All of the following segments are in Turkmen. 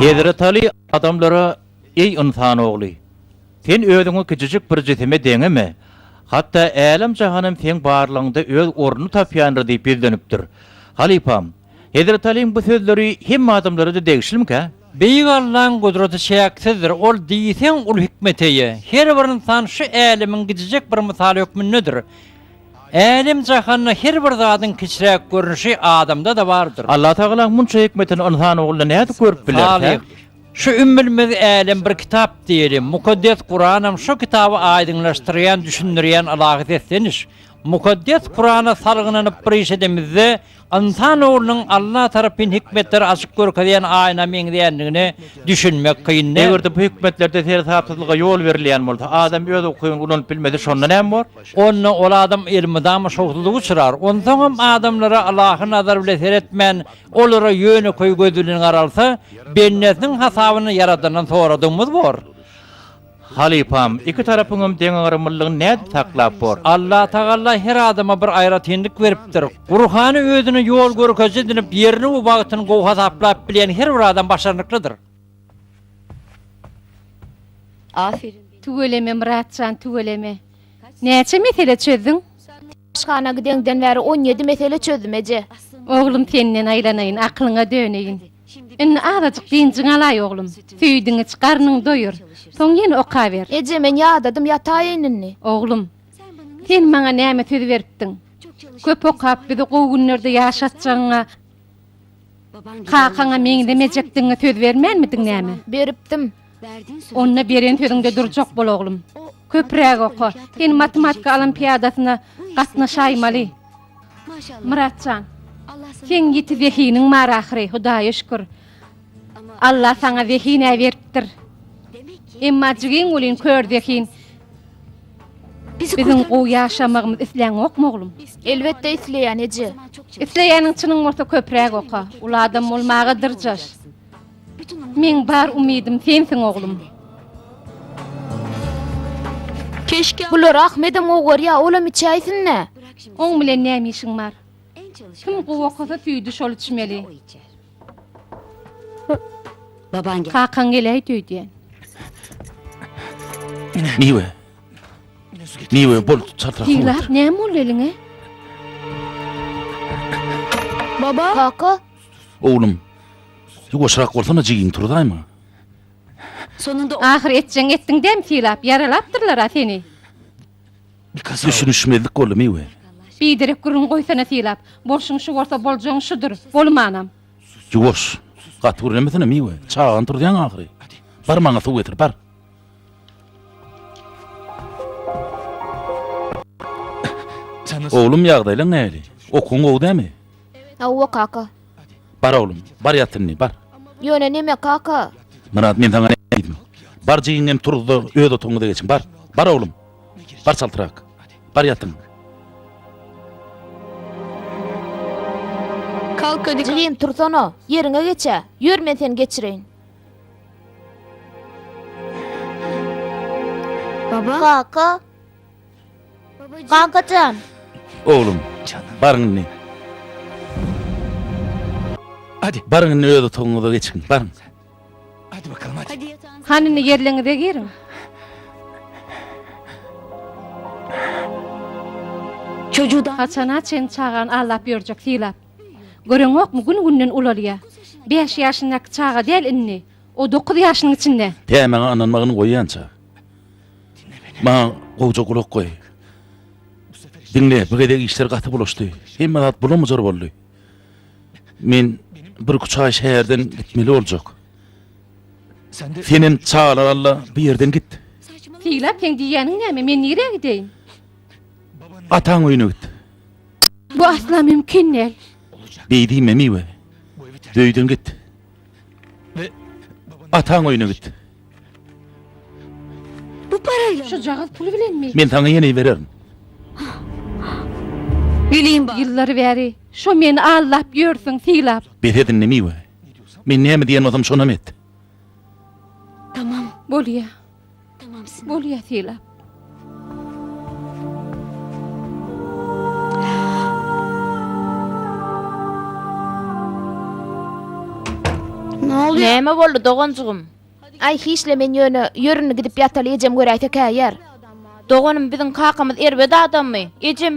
Hezreti Aly adamlara, Eý, ynsan ogly! Sen özüňi kiçijik bir jisime deňeme, hatda älem-jahanam seň barlygyňda öz ornuny tapýandyr diýip ýüzlenipdir. Halypam! Hezreti Alyň bu sözleri hemme adamlara-da degişlimikä? Beýik Allaň gudraty çäksizdir, Ol diýseň uly hikmete eýe. Her bir ynsan şu älemiň gijijek bir mysaly hökmündedir. Älem-jahanda her bir zadyň kiçiräk görnüşi adamda-da bardyr. Allatagalaň munça hikmetini ynsan ogly nädip görüp bilerkä? Salyh, şu ümmülmez älem bir kitap diýeli. Mukaddes Kuranam şu kitaby aýdyňlaşdyrýan, düşündirýän ylahy sesleniş. Mukaddes Kurana salgynanyp bir iş edemizde, Ynsan oglunyň Allah tarapyn hikmetleri açyp görkezýän aýna meňzeýändigine düşünmek kyn. Eger-de bu hikmetlerde seresapsyzlyga ýol berilýän bolsa, adam öz ukyny ulanyp bilmese, şonda näme bor? Onda ol adam elmydama şowsuzlyga uçrar. Onsoňam adamlara ylahy nazar bilen seretmän, olara ýönekeý göz bilen garalsa, bendesiniň hasabyny Ýaradandan soradygymyz bor. Halypam, iki tarapyňam deňagramlylygyny nädip saklap bor? Allatagalla her adama bir aýratynlyk beripdir. Gurhany özüne ýol görkeziji edinip, ýerini we wagtyny gowy hasaplap bilýän her bir adam başarnyklydyr. Aferin. Tüweleme Myratjan tüweleme. Näçe mesele çözdüň? Aşhana gideňden bäri on ýedi mesele çözdüm, eje. Oglum, senden aýlanaýyn, akylyňa döneýin. Indi azajyk dynjyňy alaý, oglum. Süýdüňi iç, garnyňy doýur. Soň ýene okaber. Eje, men ýadadym, ýataýyn indi. Oglum, sen maňa näme söz beripdiň? Köp okap, bizi gowy günlerde ýaşatjagyňa. Kakaňa meňzemejekdigiňe söz bermänmidiň näme? Beripdim. Onda beren sözüňde durjak bol oglum. Köpräk oka. Sen matematika olimpiadasyna gatnaşaýmaly. Myrat jan. Seň ýiti zehiniň bar ahyry, Hudaýa şükür. Alla saňa zehin-ä beripdir. Emma jigiň welin kör zehin. Biziň gowy ýaşamagymyzy isläňokmy, oglum? Elbetde isleýän, eje. Isleýäniň çynyň bolsa köpräk oka. Uly adam bolmaga dyrjaş. Meň bar umydym sensiň, oglum. Bulary Ahmedem gowy görýär, olam içäýsin-dä. Oň bilen näme işiň bar? Kim gowy okasa süýdi şol içmeli. Babaň gel. Kakaň geläýdi öýdýän. Miwe. Miwe bol çatra. Ýyglap näme boldy eliňe? Baba. Kaka. Oglum. Ýuwaşrak bolsana jigiň turdaýma. Sonunda ahyr etjeň etdiň däm silap, ýaralapdyrlar-a seni. Düşünişmezlik boldumy we. Biderek gürrüň goýsana sylap. Bolşuň şu bolsa boljagyň şudur. Bolumanam. Ýuwaş. Gaty gürlemesene Miwe. Çagany turuzýaň ahyry. Bar maňa suw getir, bar. Oglum ýagdaýlaň nähili? Okuwyň gowy dämi? Hawa kaka. Bar oglum, bar ýat indi, bar. Ýöne neme, kaka? Myrat, men saňa näme diýdim? Bar jigiň hem turuzda öz otagyňyza geçiň, bar. Bar oglum. Bar çaltrak. Bar ýatyň. Jigim, tursana, ýeriňe geç-ä. Ýör, men seni geçireýin. Kaka? Kakajan. Oglum, baryň indi. Hadi, baryň indi öz otagyňyza geçiň, baryň. Hadi bakalım, hadi. Hany indi ýerligiňize giriň. Çocudan Haçana çen çagany aldap ýörjek sylap. Göreňokmy, gün-günden ulalýa. Bäş ýaşyndaky çaga däl indi. O dokuz ýaşynyň içinde. Pämäňe ynanmagyny goýýança. Maňa gowja gulak goý. Diňle, bu gezek işler gaty bulaşdy. Hemme zat bulam-bujar boldy. Men birküç aý şäherden gitmeli boljak. Senem çagalar alla bu ýerden git. Seýlap, seň diýýäniň näme? Men nirä gideýin? Ataň öýüne git. Bu asla mümkin däl. Beýdimemi we bu öýden git. Ataň öýüne git. Bu parayla Şu jagaz pul bilen mi? Men sana yeni bererim. Bileyim bak. Yıllar beri şu meni aldap yörsün silap. Bes edin nemi we. Men näme diýen bolsam şonam et. Tamam. Bolýa. Bolýa sylap. Näme boldy doganjygym? Aý hiçle men ýöne ýörüni gidip ýataly ejem göräýse käýer. Doganym biziň kakamyz erbet adammy? Ejem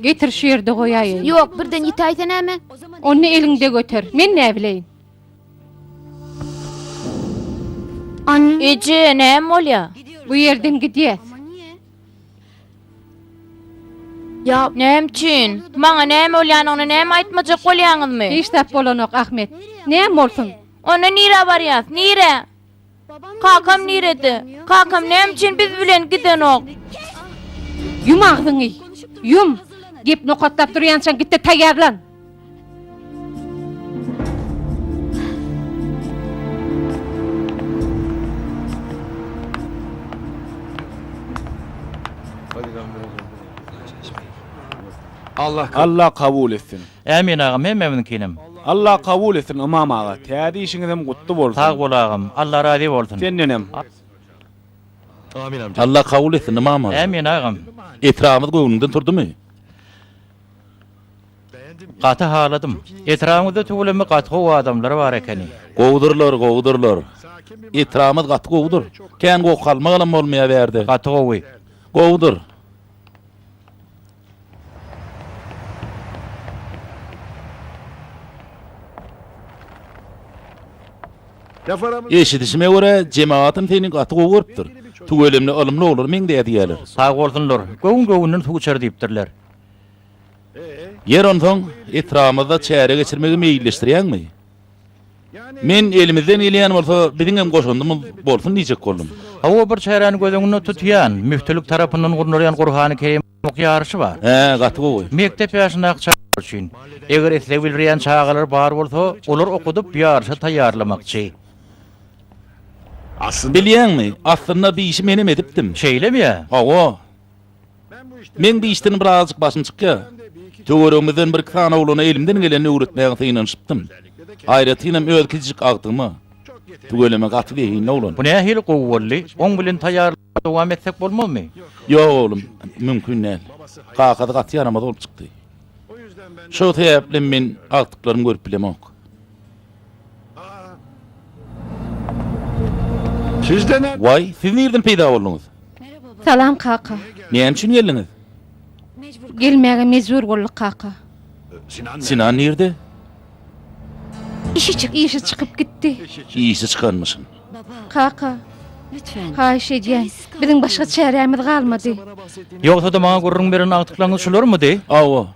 Getir şu ýerde goýaýyn. Ýok, birden ýitäýse näme? Onda eliňde göter. Men näbileýin? Eje, näme bolýar? Bu ýerden gidýäs. Näme üçin? Maňa näme bolýanyny näme aýtmajak bolýaňyzmy? Hiç zat bolanok, Ahmet. Näme bolsun? Onda nirä barýas? Nirä? Kakam nirede? Kakam näme üçin biz bilen gidenok? Ýum agzyňy! Ýum! Gep nokatlap durýançaň git-de taýýarlan! Alla kabul etsin. Ämin agam hememiziňkinem. Allah kabul etsin Ymam aga täze işiňizem gutly bolsun. Sag bol agam Allah razy bolsun. Sendenem. Allah kabul etsin Ymam aga. Ämin agam. Etrabyňyz göwnüňden turdymy? Gaty haladym. Etrabyňyzda tüweleme gaty gowy adamlar bar ekeni. Gowudyrlar gowudyrlar. Etrabymyz gaty gowudyr. Kän gowy kalmagalam bolmaýa bärde. Gaty gowy. Gowudyr. Eşidişime görä, jemagatym seni gaty gowy görüpdir. Tüweleme ylymly oglan meňzeýär diýýärler. Sag bolsunlar. Göwün-göwünden suw içer diýipdirler. Ýer, onsoň, etrabymyzda çäre geçirmegi meýilleşdirýäňmi? Men elimizden gelýän bolsa biziň hem goşandymyz bolsun diýjek boldum. Hawa bir çäräni göz öňünde tutýan, müftilik tarapyndan gurnalýan Gurhany Kerim okap ýaryşy bar. Hä gaty gowy. Mekdep ýaşyndaky çagalar üçin. Eger isleg bildirýän çagalar bar bolsa olar okudyp ýaryşa taýýarlamakçy. Bilýäňmi, aslynda bu işi menem edipdim. Şeýlemi ýa? Hawa. Meň bu işden birazajyk başym çykýar. Töweregimizden bir-iki sany oglana elimden gelenini öwretmäge synanyşypdym. Aýratynam öz kiçijik agtygyma. Tüweleme gaty zehinli oglan. Bu nähili gowy boldy? Oň bilen taýýarlyga dowam etsek bolmazmy? Ýok oglum, mümkin däl. Kakasy gaty ýaramaz bolup çykdy. Şo sebäplem men agtyklarymy görüp bilemok. Waý, siz nirden peýda bolduňyz? Salam kaka. Näme üçin geldiňiz? Gelmäge mejbur bolduk kaka. Sinan nirde? Işi çyk işi çykyp gitdi. Işi çykanmyşyn. Kaka. Haýyş edýän. Biziň başga çärämiz galmady. Ýogsa-da maňa gürrüň beren agtyklaryňyz şularmydy? Hawa.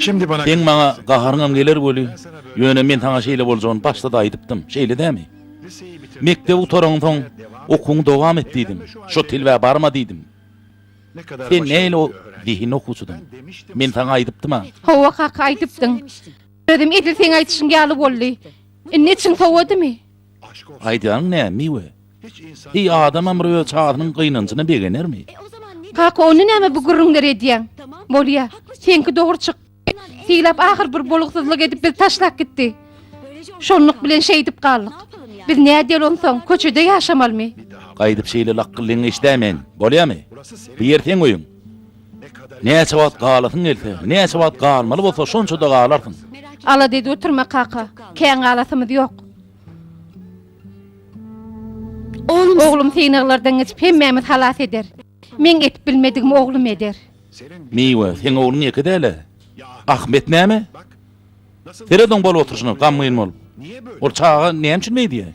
Seň maňa gaharyňam geler weli, ýöne men saňa şeýle boljagyny başda-da aýdypdym, şeýle dämi? Mekdebi gutaraňsoň, okuwyňy dowam et diýdim. Şo tilwä barma diýdim. Sen näl o zehinli okuwçydyň. Men saňa aýdypdym-a. Hawa, kaka, aýdypdyň. Özem edil seň aýdyşyň ýaly boldy. Indi içiň sowadymy? Aýdýanyň nä, Miwe? Heý, adamam bir öz çagasynyň gynanjyna begenermi? Kaka, onda nämä bu gürrüňleri edýäň? Bolýa, seňki dogry çykdy. Syýlap ahyr bir bolgusyzlyk edip bizi taşlap gitdi. Şonluk bilen şeýdip galdyk. Biz nädýeli onsoň, köçede ýaşamalymy? Gaýdyp şeýle lakgyllygyňy eşdäýmen, bolýamy? Bu ýer seň öýüň. Näçe wagt galasyň gelse, näçe wagt galmaly bolsa şonça-da galarsyň. Alada edip oturma, kaka. Kän galasymyz ýok. Oglum synaglardan geçip hemmämizi halas eder. Meň edip bilmedigimi oglum eder. Miwe, seň ogluň ýeke däl-ä. Ahmet näme? Seret oň bolup oturyşyna, gamgyn bolup. Ol çaga näme üçin beýdi ýa?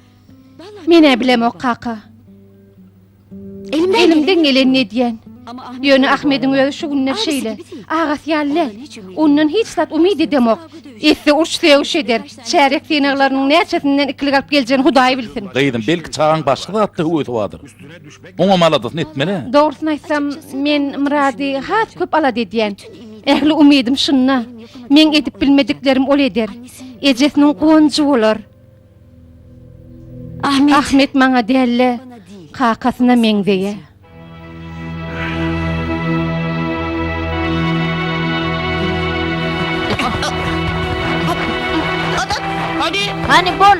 Men-ä bilemok, kaka. Elimden gelenini edýän. Ýöne Ahmediň özi şu günler şeýle. Agasy ýaly däl. Ondan hiç zat umyt edemok. Etse uruş-sögüş eder. Çärýek synaglarynyň näçesinden ikilik alyp geljegini Hudaý bilsin. Gyzym, belki çagaň başga zatda höwesi bardyr. Oňam aladasyny etmeli. Dogrusyny aýtsam, men Myrady has köp alada edýän. Ähli umydym şunda. Meň edip bilmediklerim ol eder. Ejesiniň guwanjy bolar. Ahmet maňa däl-de, kakasyna meňzeýär. Hany bol,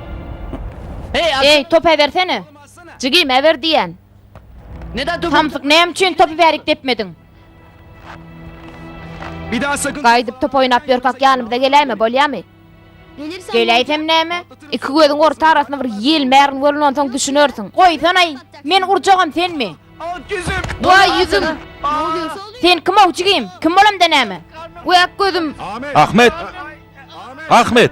Eý, topy äbersene! Jigim, äber diýýän! Samsyk, näme üçin topy bärik depmediň? Gaýdyp top oýnap ýörkäk ýanymyza geläýme, bolýamy? Geläýsem näme? Iki gözüň orta arasyna bir ýel märin görün, onsoň düşünersiň. Goýsana-aý! Meni urjagam senmi? Waý, ýüzüm! Sen kim-ow, jigim? Kim bolamda näme? Wek, gözüm! Ahmet! Ahmet!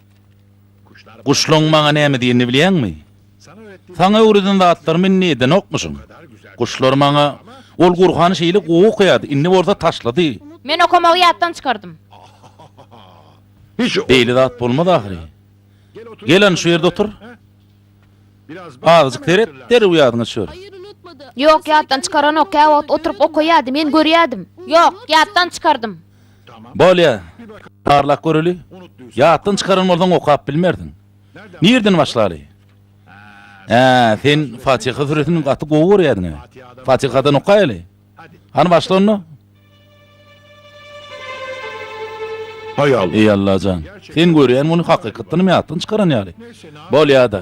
Guşlaň maňa näme diýenini bilýäňmi? Saňa öwreden zatlarymy indi edenokmyşyň? Guşlar maňa, Ol Gurhany şeýle gowy okaýardy, indi bolsa taşlady. Men okamagy ýatdan çykardym. Hiç beýle zat bolmaz ahyry. Gel hany şu ýerde otur. Azajyk seret, derrew ýadyňa düşer. Ýok, ýatdan çykaranok, käwagt oturyp okaýardy, men görýärdim. Ýok, ýatdan çykardym. Bolýa, barlap göreli, ýatdan çykaran bolsaň okap bilmersiň. Nirden başlaly? Hä, sen Fatyha süresini gaty gowy görýärdiň-ä. Fatyhadan okaýaly. Hany başla onda. Eý Allajan, sen görýän muny hakykatdanam ýatdan çykaran ýaly. Bolýa-da.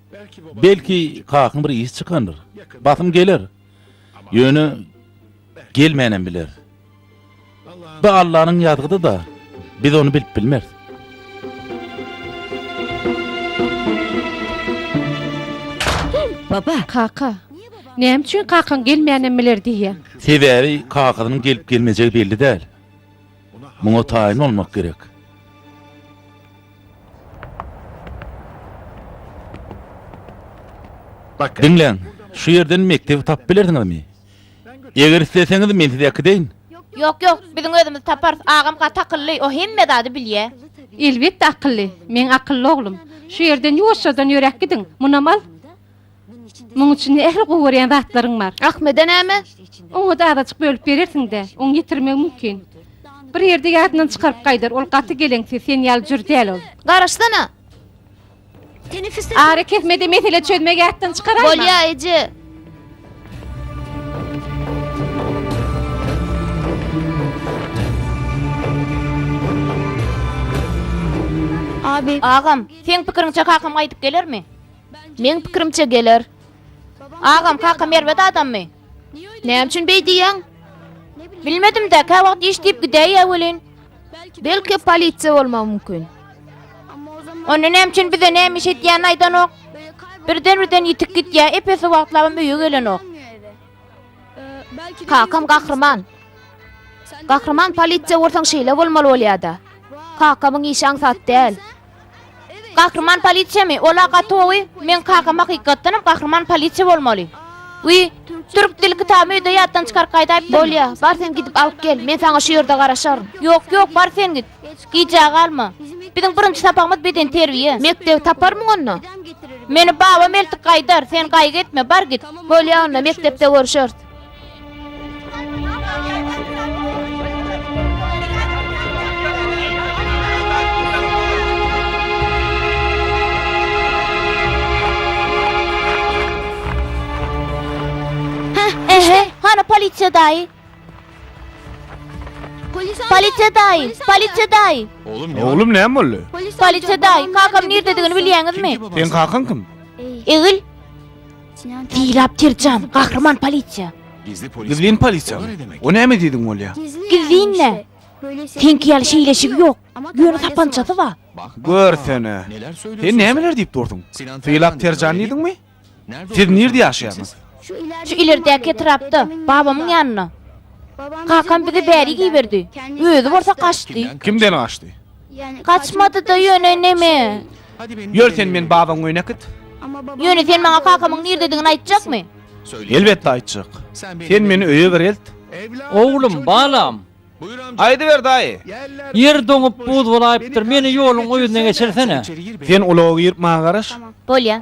Belki, kakyň bir iş çykandyr. Basym geler. Ýöne gelmänem biler. Bu Allanyň ýazgydy-da, biz ony bilip bilmeris. Baba! Kaka! Näme üçin kakaň gelmänem biler diýýäň? Sebäbi kakasynyň gelip-gelmejegi belli däl. Muňa taýyn bolmak gerek. Diňläň, şu ýerden mekdebi tapyp bilersiňizmi? Eger isleseňiz, men sizi äkideýin. Ýok, ýok, biziň özümiz taparys. Agam gaty akylly, o hemme zady bilýär. Elbetde akylly. Meň akylly oglum. Şu ýerden ýuwaşjadan ýöräp gidiň. Munam al. Muň içinde ähli gowy görýän zatlaryň bar. Ahmede näme? Oňa-da azajyk bölüp berersiň-dä. Oň ýitirmegi mümkin. Bir ýerde ýadyndan çykaryp gaýdar. Ol gaty geleňsiz, sen ýaly jür däl ol. Garaşsana! Ara kesme-de mesele çözmegi ýatdan çykaraýma. Bolýa, eje. Agam, seň pikiriňçe kakam gaýdyp gelermi? Meň pikirimçe geler. Agam, kakam erbet adammy? Näme üçin beý diýýäň? Bilmedim-dä, käwagt iş diýip gidäýýä welin. Belki polisiýa bolmagy mümkin. Onda näme üçin bize näme iş edýänini aýdanok? Birden-birden ýitip gidýär, epesi wagtlabam öýe gelenok. Kakam gahryman. Gahryman polisiýa bolsaň şeýle bolmaly bolýar-da. Kakamyň işi aňsat däl. Gahryman polisiýamy? Ol-a gaty gowy. Meň kakam hakykatdanam gahryman polisiýa bolmaly. Wiý, türk dil kitabymy öýde ýatdan çykaryp gaýdaýypdyryn. Bolýa, bar sen gidip alyp gel, men saňa şu ýerde garaşaryn. Ýok, ýok, bar sen git. Gijä galma. Biziň birinji sapagymyz bedenterbiýe. Mekdebi taparmyň onda? Meni babam eltip gaýdar, sen gaýgy etme, bar git. Bolýa onda, mekdepde görüşeris. Polisiýa daýy. Polisiýa daýy, polisiýa daýy. Oglum, oglum näme boldy? Polisiýa daýy, kakam nirdedigini bilýäňizmi? Sen kakaň kim? Egil. Diýläp terjan, gahryman polisiýa. Gizlin polisiýa. O näme diýdiň bolýa? Gizlinle. Seňki ýaly şeýleşigi ýok. Ýöne sapançasy bar. Görsene. Sen nämeler diýip durdyň? Diýläp terjan diýdiňmi? Siz nirde ýaşaýaňyz? Şu ileridäki etrapda, babamyň ýanynda. Kakam bizi bärik iberdi. Özi bolsa gaçdy. Kimden gaçdy? Gaçmady-da ýöne neme? Ýör sen meni babaň öýüne äkit. Ýöne sen maňa kakamyň nirdedigini aýtjakmy? Elbetde aýtjak. Sen meni öýe bir elt. Oglum, balam. Aýdyber daýy. Ýer doňup buz bolaýypdyr. Meni ýoluň o ýüzüne geçirsene. Sen ulaga girip maňa garaş. Bolýa.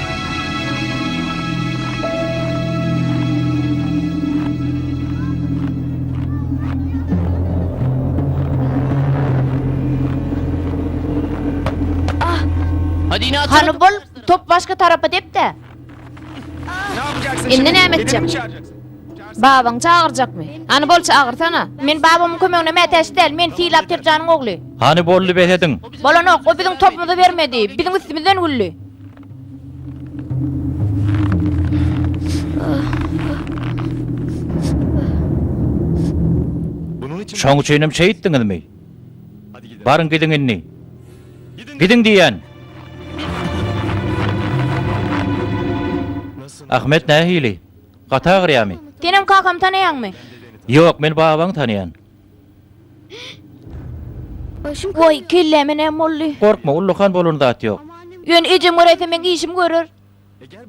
Hany bol, top başga tarapa dep-de. Indi näme etjek? Babaň çagyrjakmy? Hany bol çagyrsana. Men babamyň kömegine mätäç däl, men Sylap Pirjanyň ogly. Hany boldy behediň? Bolanok, o biziň topumyzy bermedi, biziň üstümizden güldi. Şoň üçin hem şeýt etdiňizmi? Baryň gidiň indi. Gidiň diýýän. Ahmet nähili? Gaty agyrýamy? Senem kakamy tanaýaňmy? Ýok, men babaňy tanaýan. Woý, kelläme näme boldy? Gorkma, ullakan bolan zat ýok. Ýöne ejem görerse meň işimi görer.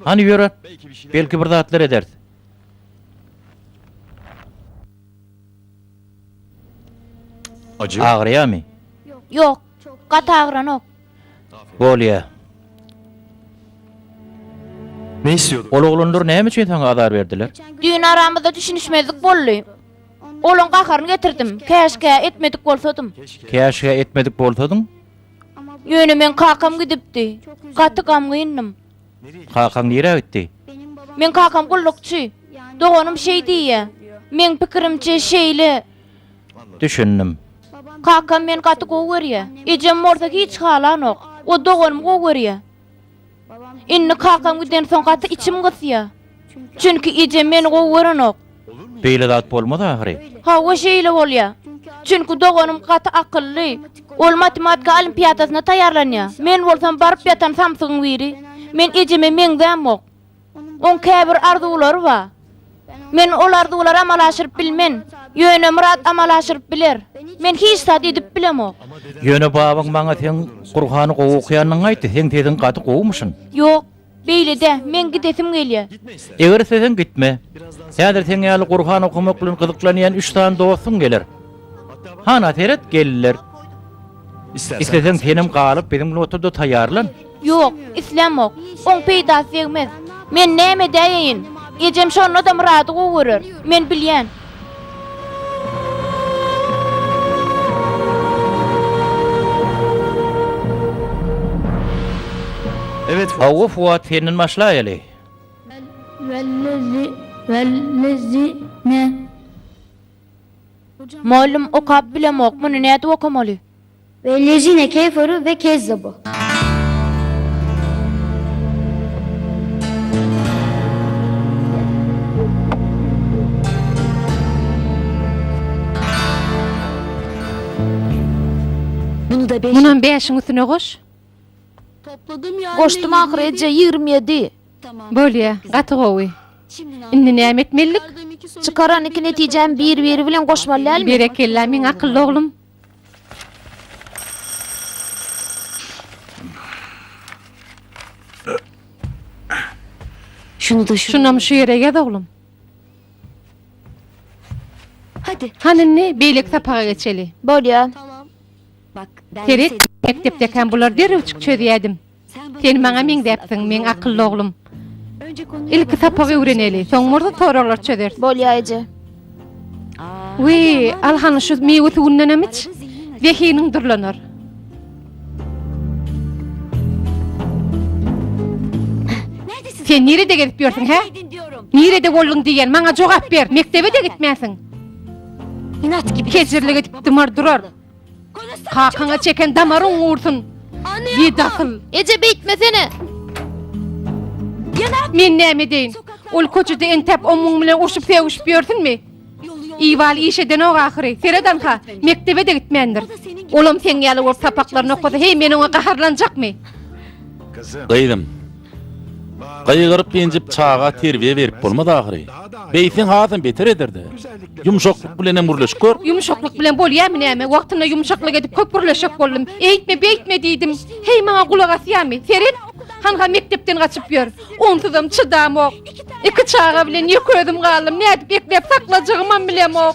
Hany ýöre, belki bir zatlar ederis. Agyrýamy? Ýok, gaty agyranok. Bolýa. Ol oglanlar näme üçin saňa azar berdiler? Düýn aramyzda düşünişmezlik boldy. Olaň gaharyny getirdim. Käşgä, etmedik bolsadym. Käşgä, etmedik bolsadyň. Ýöne meň kakam gidipdi. Gaty gamgyndym. Kakaň nirä gitdi? Meň kakam gullukçy. Doganym şeý diýýä. Meň pikirimçe, şeýle. Düşündim. Kakam meni gaty gowy görýä. Ejem bolsa hiç halanok. O doganymy gowy görýä. Indi kakam gidensoň gaty içim gysýa. Çünki ejem meni gowy görenok. Beýle zat bolmaz ahyry. Hawa şeýle bolýa. Çünki doganym gaty akylly. Ol matematika olimpiadasyna taýýarlanýa. Men bolsam baryp ýatan samsygyň biri. Men ejeme meňzämok. Oň käbir arzuwlary ba. Men ol arzuwlary amala aşyryp bilmen. Ýöne Myrat amala aşyryp biler. Men hiç zat edip bilemok. Ýöne babaň maňa seň Gurhany gowy okaýanyňy aýtdy. Seň sesiň gaty gowumyşyn. Ýok, beýle-de, meň gidesim gelýä. Eger isleseň gitme. Häzir seň ýaly Gurhan okamak bilen gyzyklanýan üç sany dostuň geler. Hana seret, geldiler. Isleseň senem galyp biziň notada taýýarlan. Ýok, islämok. Oň peýdasy degmez. Men näme edäýeýin? Ejem şonda-da Myrady gowy görer. Men bilýän. Hawa, Fuat, senden başlaýaly. Wellezi, wellezi, ne? Mugallym, Okap bilemok, muny nädip okamaly? We Lejine keferu we kezzebu. Munam bäşiň üstüne goş. Goşdum ahyry eje ýigrimi ýedi. Bolýa, gaty gowy. Indi näme etmelidik? Çykaran iki netijäni bir-biri bilen goşmaly dälmi? Berekella, meň akylly oglum. Şunam şu ýere ýaz oglum. Hany indi beýleki sapaga geçeli. Bolýa. Seret, mekdepdäkäm bular derrewjik çözýädim. Sen maňa meňzäpsiň, meň akylly oglum. Ilki sapagy öwreneli, soň bolsa soraglary çözeris. Bolýa eje. Wiý, al hany şu miwe suwundanam iç. Zehiniň durlanar. Sen nirede gezip ýörsüň, hä? Nirede bolduň diýýän, maňa jogap ber. Mekdebe-de gitmänsiň. Inat gibi. Kejirlik edip dymar durar. Kakaňa çeken damaryň gursun. Gidasyl. Eje beýtmesene. Men näme edeýin? Ol köçede entäp ommuň bilen urşup sögüşip ýörsünmi? Iwal iş edenok ahyry. Seredanha, mekdebe-de gitmändir. Olam seň ýaly bolup sapaklaryny okasa, heý, men oňa gaharlanjakmy? Gyzym, Gygyryp-enjip çaga terbiýe berip bolmaz ahyry. Beýtseň hasam beter eder-dä. Ýumşaklyk bilenem gürleşip gör. Ýumşaklyk bilen bolýamy näme? Wagtynda ýumşaklyk edip köp gürleşjek boldum. Eýtme, beýtme diýdim. Heý, maňa gulak asýamy? Seret! Hanha mekdepden gaçyp ýör. Onsuzam çydamok. Iki çaga bilen ýeke özüm galdym. Nädip ekläp saklajagymam bilemok.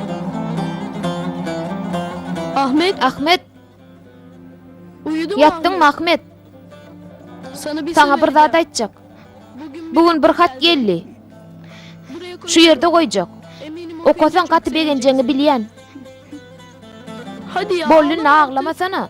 Ahmet! Ahmet! Ýatdyňmy, Ahmet? Saňa bir zat aýtjak. Bu gün bir hat geldi. Şu ýerde goýjak. Okasaň gaty begenjegiňi bilýän. Boldy indi aglamasana.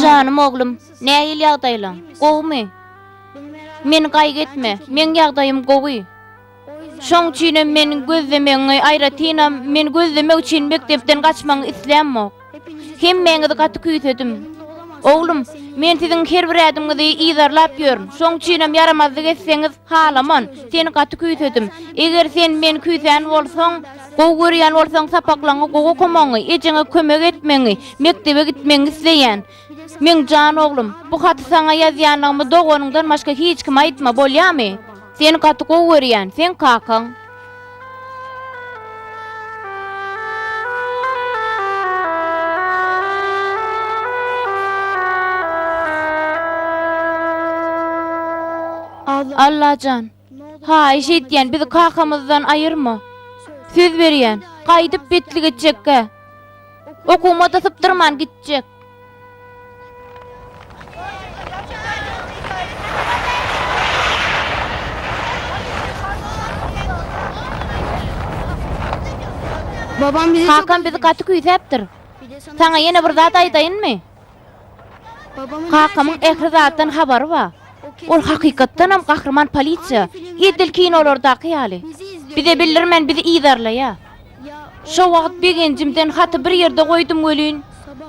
Janym oglum, nähili ýagdaýlaň? Gowumy? Meni gaýgy etme, meň ýagdaýym gowy. Şoň üçinem men gözlemegiňi, aýratynam, men gözlemek üçin mekdepden gaçmagyňy islämok. Hemmäňizi gaty küýsedim. Oglum, men siziň her bir ädimiňizi yzarlap ýörün. Şoň üçinem ýaramazlyk etseňiz, halaman, seni gaty küýsedim. Eger sen meni küýsän bolsaň, gowy görýän bolsaň, sapaklaryňy gowy okamangy, ejeňe kömek etmegiňi, mekdebe gitmegiňi isleýän. Meň jan oglum, bu haty saňa ýazýanymy doganyňdan başga hiç kime aýtma, bolýamy? Seni gaty gowy görýän, seň kakaň. Allajan! Haýyş edýän, bizi kakamyzdan aýyrma. Söz berýän, gaýdyp betlik etjekkä. Okumada sypdyrman gitjek. Kakam bizi gaty küýsäpdir. Saňa ýene bir zat aýdaýynmy? Kakamyň ähli zatdan habary ba. Ol hakykatdanam gahryman polisiýa, edil kinolardaky ýaly. Bize bildirmän bizi yzarlaýa. Şo wagt begenjimden haty bir ýerde goýdum welin,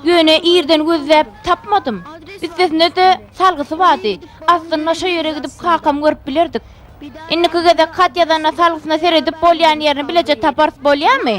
ýöne irden gözläp tapmadym. Üstesine-de salgysy bady, aslynda şo ýere gidip kakamy görüp bilerdik. Indiki gezek hat ýazanda salgysyna seredip bolýan ýerini bileje taparys bolýamy?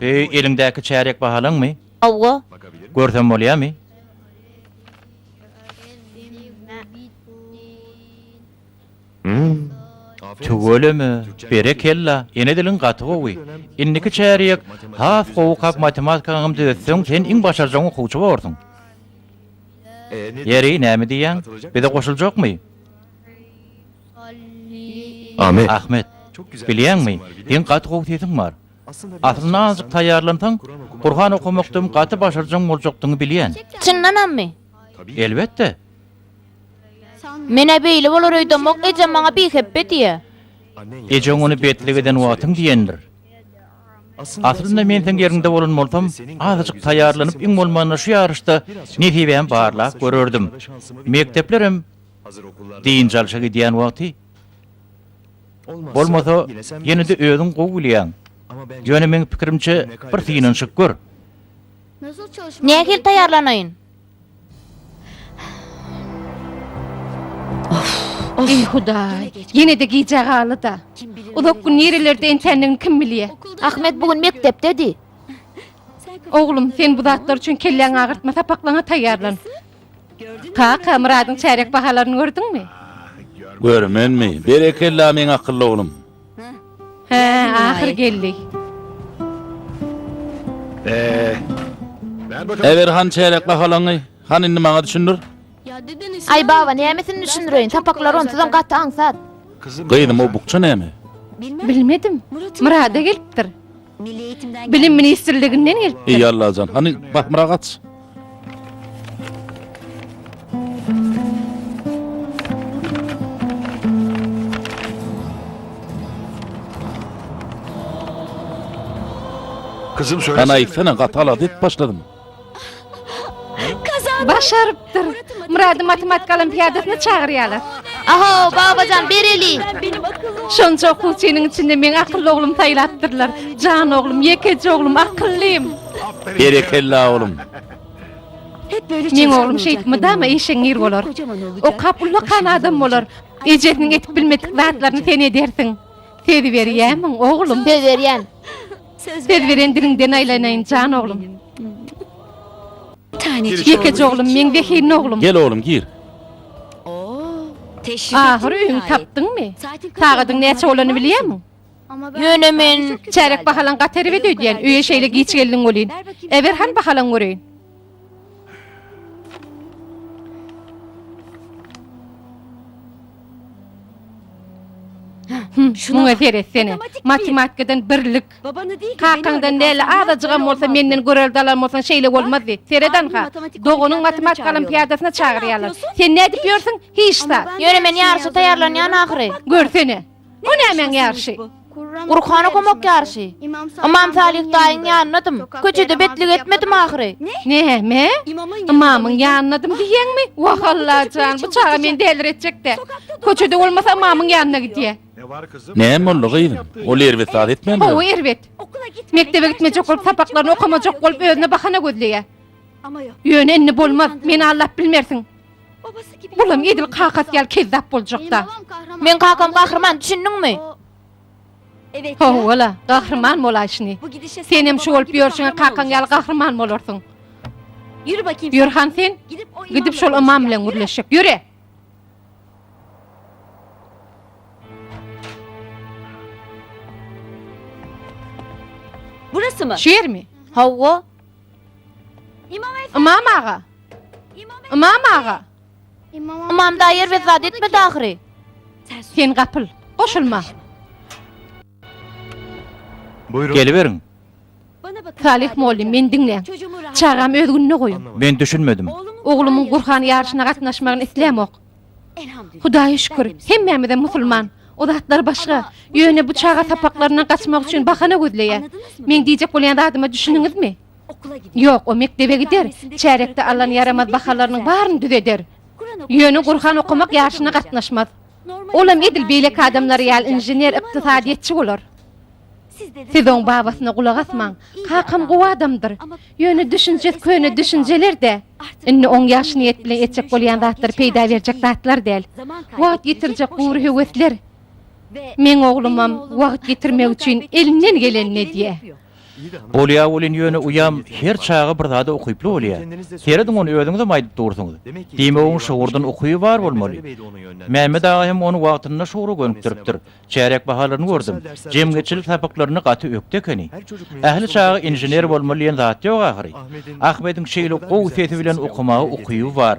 Öý, eliňdäki çärýek bahalaňmy? Hawa. Görsem bolýamy? Tüweleme. Berekella. Ene diliň gaty gowy. Indiki çärýek has gowy kak matematikaňam düzetseň sen iň başarjaň okuwçy borsuň. Ýeri, näme diýýäň? Bize goşuljakmy? Ahmet. Ahmet. Bilýäňmi, seň gaty gowy sesiň bar. Aslynda azajyk taýýarlansaň, Gurhan okamakdam gaty başarjaň boljakdygyňy bilýän. Çyndanammy? Elbetde. Men-ä beýle bolar öýdemok, ejem maňa bihepbe diýýä. Ejeň ony betlik eden wagtyň diýendir. Aslynda men seň ýeriňde bolan bolsam, azajyk taýýarlanyp iň bolmanda şu ýaryşda nesibämi barlap görerdim. Mekdeplerem. Dynç alşa gidýän wagty bolmasa, ýene-de özüň gowy bilýäň. Ýöne meň pikirimçe, bir synanyşyp gör. Nähili taýýarlanaýyn? Eý, Hudaý! Ýene-de gijä galdy-da. Uzak gün nirelerde entendigini kim bilýä? Ahmet bu gün mekdepdedi. Oglum, sen bu zatlar üçin kelläňi agyrtma, sapaklaňa taýýarlan. Kaka, Myradyň çärýek bahalaryny gördüňmi? Görmenmi? Berekella, meň akylly oglum. Hä, ahyr geldi. Äber han çärýek bahalaňy. Han indi maňa düşündir. Aý baba, nämesini düşündireýin, sapaklary onsuzam gaty aňsat. Gyzym, o bukja näme? Bilmedim. Myrada gelipdir. Milli eýitimden Bilim gelmiş. ministrliginden gelipdir. Eý Allajan, hany Bahmyra gaç. Gyzym Hany söylesene. aýtsana gaty alada edip başladym. Başarypdyr. Murady matematika olimpiadasyna çagyrýarlar. Aho, babajan bereli. Şonça okuwçynyň içinde meň akylly oglum saýlapdyrlar. Jan oglum, ýekeje oglum, akyllym. Berekella oglum. Meň oglum şeýdip mydama işeňňir bolar. Okap ullakan adam bolar. Ejesiniň edip bilmedik zatlaryny sen edersiň. Söz berýämiň, oglum? Söz berýän. Söz beren diliňden aýlanaýyn jan oglum. Ýekeje oglum meň zehinli oglum. Gel oglum gir. Ahyr öýüňi tapdyňmy? Sagadyň näçe bolany bilýämiň? Ýöne men. Çärek bahalaň gaty erbet öýdýän, öýe şeýle giç geldiň welin. Eber han bahalaň göreýin. Şuna seret seni. Matematikadan birlik. Babanı değil Kakaňdan näle azajygam bolsa menden görelde alan bolsan şeýle bolmazdy. Seredan ha. Doganyň matematika olimpiadasyna çagyrýarlar. Sen nädip ýörsüň? Hiç zat. Ýöne men ýaryşa taýýarlanýan ahyry. Görsene. Bu nämäň ýaryşy? Gurhana gomak ýaryşy. Ymam Salyh daýyň ýanynadym. Köçede betlik etmedim ahyry. Näme? Ymamyň ýanynadym diýýäňmi? Wah, Allajan, bu çaga meni däliretjek-dä. Köçede bolmasa ymamyň ýanyna gidýär. Näme boldy, gyzym? Ol erbet zat etmändir? Hawa, erbet. Mekdebe gitmejek bolup, sapaklaryny okamajak bolup, özüne bahana gözleýär. Ýöne indi bolmaz. Meni aldap bilmersiň. Olam edil kakasy ýaly kezzap boljak-da. Meň kakam gahryman, düşündiňmi? Hawa-la, gahryman bolaý şüni. Senem şu bolup ýörşüňe kakaň ýaly gahryman bolarsyň. Ýör han sen, gidip şol ymam bilen gürleşjek. Ýöre! Burasy mı? Şu yer mi? Hawa. Ymam aga! Ymam aga! Ymam daýer we zat etmedi ahyry. Sen gapyl, goşulma. Geliberiň. Salyh mollym, meni diňläň. Çagamy öz gününe goýuň. Men düşünmedim. Oglumyň Gurhan ýaryşyna gatnaşmagyny islämok. Hudaýa şükür, hemmämizem musulman. O zatlar başga. Ýöne bu çaga sapaklaryndan gaçmak üçin bahana gözleýär. Meň diýjek bolýan zadyma düşündiňizmi? Ýok, o mekdebe gider, çärekde alan ýaramaz bahalarynyň baryny düzeder. Ýöne Gurhan okamak ýaryşyna gatnaşmaz. Olam edil beýleki adamlar ýaly inžener, ykdysadyýetçi bolar. Siz oň babasyna gulak asmaň. Kakam gowy adamdyr. Ýöne düşünjesi köne düşünjeler-dä. Indi oň ýaş niýet bilen etjek bolýan zatlary peýda berjek zatlar däl. Wagt ýitirjek gury höwesler. Meň oglumam wagt ýitirmek üçin elinden gelenini edýär. Bolýar welin ýöne uýam her çaga bir zada ukyply bolýar. Serediň ony özüňizem aýdyp dursuňyz. Diýmek oň şugurdan ukyby bar bolmaly. Mämmet aga hem ony wagtynda şugura gönükdiripdir. Çärek bahalaryny gördüm. Jemgyýetçilik sapaklarynda gaty ökde ekeni. Ähli çaga inžener bolmaly diýen zat ýok ahyry. Ahmediň şeýle gowy sesi bilen okamaga ukyby bar.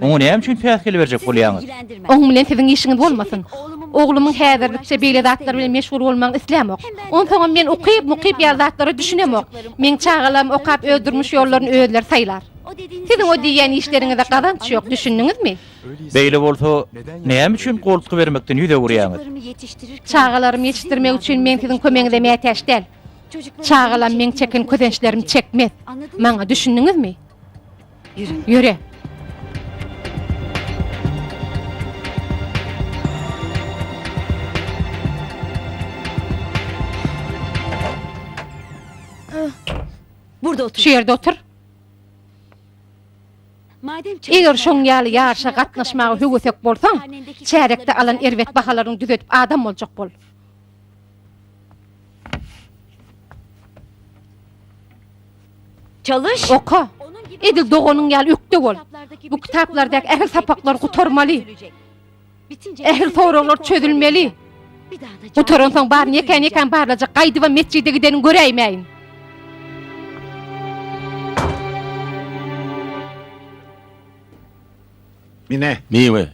Oňa näme üçin päsgel berjek bolýaňyz? Oň bilen siziň işiňiz bolmasyn. Oglumyň häzirlikçe beýle zatlar bilen meşgul bolmagyny islämok. Onsoňam men ukyp, mukyp ýaly zatlara düşünemok. Meň çagalarym okap öz durmuş ýollaryny özleri saýlar. Siziň o diýýän işleriňize gazanç ýok, düşündiňizmi? Beýle bolsa, näme üçin goltgy bermekden ýüz öwürýäňiz? Çagalarymy ýetişdirmek üçin men siziň kömegiňize mätäç däl. Çagalam meň çeken kösençlerimi çekmez. Maňa düşündiňizmi? Ýöre! Şu ýerde otur. Eger şoň ýaly ýaryşa gatnaşmaga höwesek bolsaň, çärekde alan erbet bahalaryňy düzedip adam boljak bol. Çalyş! Oka! Edil doganyň ýaly ökde bol. Bu kitaplardaky ähli sapaklary gutarmaly. Ähli soraglar çözülmeli. Gutaransoň baryny ýekän-ýekän barlajak, gaýdybam metjide gidenin göräýmäýin. Mine. Miwe.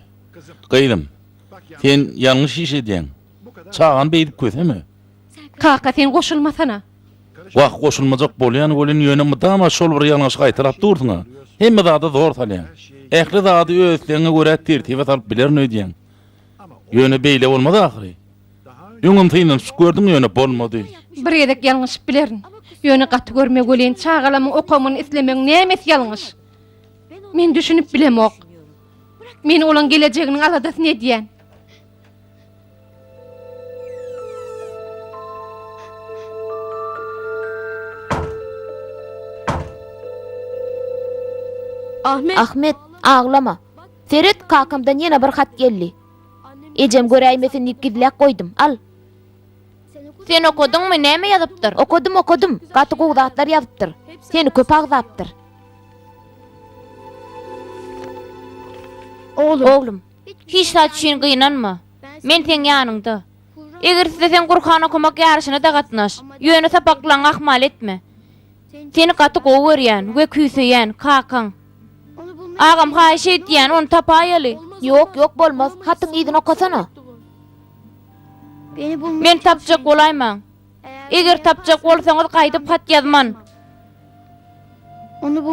Gyzym, sen ýalňyş iş edýäň. Çagany beýdip köseme. Kaka, sen goşulmasana. Wah, goşulmajak bolýan welin, ýöne mydama şol bir ýalňyşy gaýtalap dursuň-a. Hemme zada zor salýaň. Ähli zady öz islegiňe görä tertibe salyp bilerin öýdýäň. Ýöne beýle bolmaz ahyry. Öňem synanyşyp gördüň, ýöne bolmady. Bir gezek ýalňyşyp bilerin. Ýöne gaty görme welin, çagalamyň okamagyny islemegiň nämesi ýalňyş? Men düşünip bilemok. Men olaň gelejeginiň aladasyny edýän. Ahmet, aglama. Seret, kakamdan ýene bir hat geldi. Ejem göräýmesin diýip gizläp goýdum. Al. Sen okadyňmy, näme ýazypdyr? Okadym, okadym. Gaty gowy zatlar ýazypdyr. Seni köp agzapdyr. Oglum. Hiç zat üçin gynanma. Men seň ýanyňda. Eger isleseň Gurhan okamak ýaryşyna-da gatnaş. Ýöne sapaklaryňy ahmal etme. Seni gaty gowy görýän we küýseýän kakaň. Agam haýyş edýän ony tapaýaly. Ýok, ýok bolmaz. Hatyň yzyny okasana. Men tapjak bolaýmaň. Eger tapjak bolsaňyz gaýdyp hat ýazman.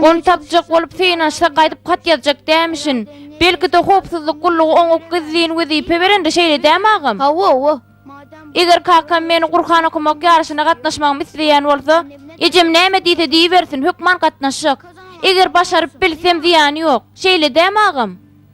Ony tapjak bolup synanyşsa gaýdyp hat ýazjak dämişin. Belki-de howpsuzlyk gullugy oňa gizlin wezipe berende şeýle dämi agam? Hawa-owa. Eger kakam meni Gurhan okamak ýaryşyna gatnaşmagymy isleýän bolsa, ejem näme diýse diýibersin, hökman gatnaşjak. Eger başaryp bilsem zyýany ýok. Şeýle dämi agam?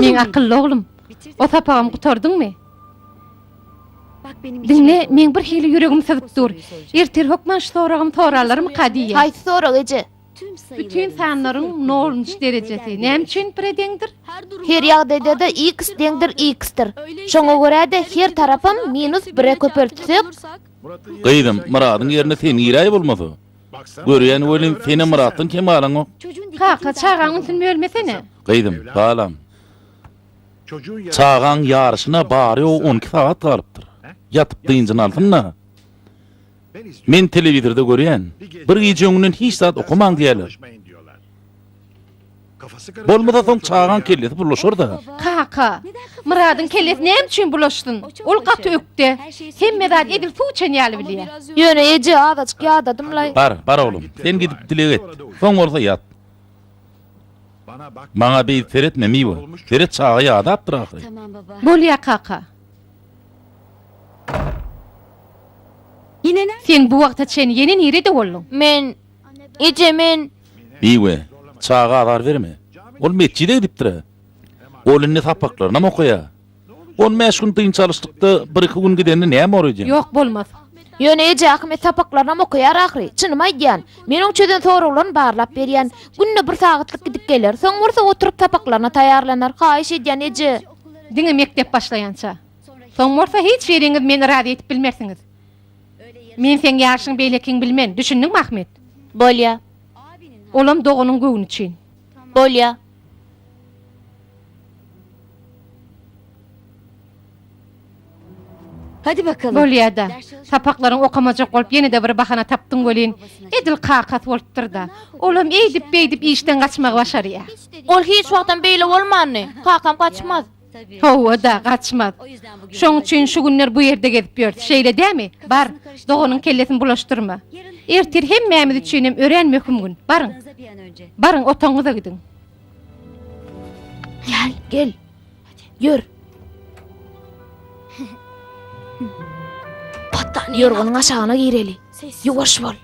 Meň akylly oglum, o sapagam gutardyňmy? Diňle, meň birhili ýüregim syzyp dur. Ertir hökman şu soragym soralarmyka diýýän. Haýsy sorag, eje? Bütin sanlaryň nolunjy derejesi näme üçin pire deňdir? Her ýagdaýda-da x deňdir x-dir. Şoňa görä-de, her tarapam minus bire köpeltsek. Gyzym, Myradyň ýerine sen giräý bolmasa. Görýän welin, senem Myratdan kem galaňok. Kaka, çagaň ünsüni bölmesene. Gyzym, balam. Çagaň ýaryşyna bary-ýogy on iki sagat galypdyr. Ýatyp dynjyny alsyn-da. Men telewizorda görýän, bir gije öňünden hiç zat okamaň diýýärler. Bolmasa soň çagaň kellesi bulaşar-da. Kaka, Myradyň kellesi näme üçin bulaşsyn? Ol gaty ökde. Hemme zady edil suw içen ýaly bilýär. Ýöne eje, azajyk ýadadym-laý. Bar, bar oglum, sen gidip dileg et. Soň bolsa ýat. Maňa beýt seretme, Miwe. Seret, çaga ýadapdyr ahyry. Bolýar, kaka. Sen bu wagta çen ýene nirede bolduň? Men, Eje, men. Bibi, Çaga azar berme. Ol metjide gidipdir-ä. Ol indi sapaklarynam okaýa. On bäş gün dynç alyşlykda bir-iki gün gidende näme bor ejem? Ýok, bolmaz. Ýöne, eje, Ahmet sapaklarynam okaýar ahyry. Çynymy aýdýan. Men oň çözen soraglaryny barlap berýän. Günde bir sagatlyk gidip geler. Soň bolsa oturyp sapaklaryna taýýarlanar. Haýyş edýän, eje. Diňe mekdep başlaýança. Soň bolsa hiç biriňiz meni razy edip bilmersiňiz. Men seň ýaşyň beýlekiňi bilmen, düşündiňmi, Ahmet? Bolýa. Olam doganyň göwni üçin. Bolýa. Bolýa-da. Sapaklaryňy okamajak bolup ýene-de bir bahana tapdyň welin, edil kakasy bolupdyr-da. Olam eýdip-beýdip işden gaçmagy başarýa. Ol hiç wagtam beýle bolmandy. Kakam gaçmaz. Hawa-da, gaçmaz. Şoň üçin şu günler bu ýerde gezip ýör, şeýle dämi? Bar, doganyň kellesini bulaşdyrma. Ertir hemmämiz üçinem örän möhüm gün. Baryň. Baryň, otagyňyza gidiň. Gel. Ýör! Ýorganyň aşagyna gireli. Ýuwaş bol!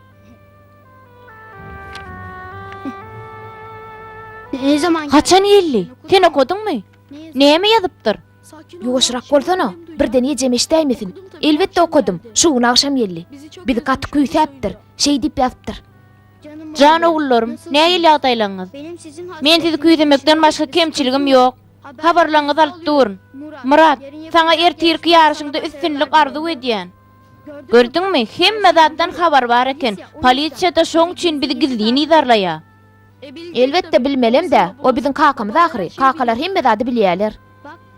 Haçan geldi? Sen okadyňmy? Näme ýazypdyr? Ýuwaşrak bolsana! Birden ejem eşidäýmesin. Elbetde okadym. Şu gün agşam geldi. Bizi gaty küýsäpdir. Şeý diýip ýazypdyr. Jan ogullarym, nähili ýagdaýlaňyz? Men sizi küýsemekden başga kemçiligim ýok. Habarlaryňyzy alyp durun. Myrat, saňa ertirki ýaryşyňda üstünlik arzuw edýän. Gördüňmi, hemme zatdan habar bar eken, polisiýa-da şoň üçin bizi gizlin yzarlaýar. Elbetde, bilmelem-dä, o biziň kakamyz ahyry, kakalar hemme zady bilýärler.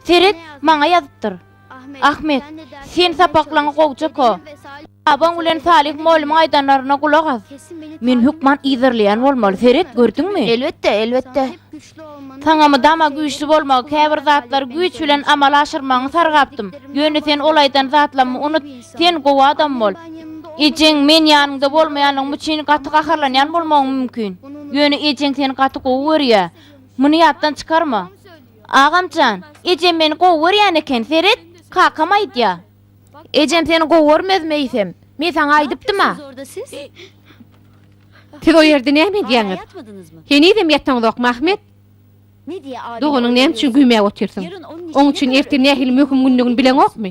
Seret, maňa ýazypdyr. Ahmet, sen sapaklaňy gowja ko. Babaň bilen Salyh mollumyň aýdanlaryna gulak as. Men hökman yzarlaýan bolmaly, seret, gördüňmi? Elbetde, elbetde. Saňa mydama güýçli bolmagy, käbir zatlary güýç bilen amala aşyrmagyňy sargapdym. Ýöne sen ol aýdan zatlarymy unut, sen gowy adam bol. Ejeň men ýanyňda bolmaýanlygym üçin gaty gaharlanýan bolmagyň mümkin. Ýöne ejeň seni gaty gowy görýär. Muny ýatdan çykarma. Agamjan, ejem meni gowy görýän eken, seret, kakam aýdýa. Ejem seni gowy görmez meýsem. Men saňa aýdypdym-a. Siz o ýerde näme edýäňiz? Henizem ýataňzokmy, Ahmet? Doganyň näme üçin güýmäp otyrsyň? Oň üçin erte nähili möhüm gündigini bileňokmy?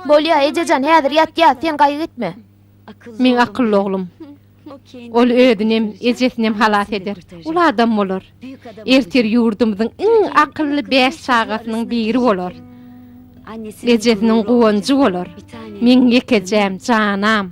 Bolýa, ejejan, häzir ýatýas, sen gaýgy etme. Meň akylly oglum. Ol özünem, ejesinem halas eder. Uly adam bolar. Ertir ýurdumyzyň iň akylly bäş çagasynyň biri bolar. Ejesiniň guwanjy bolar. Meň ýekejäm, janam.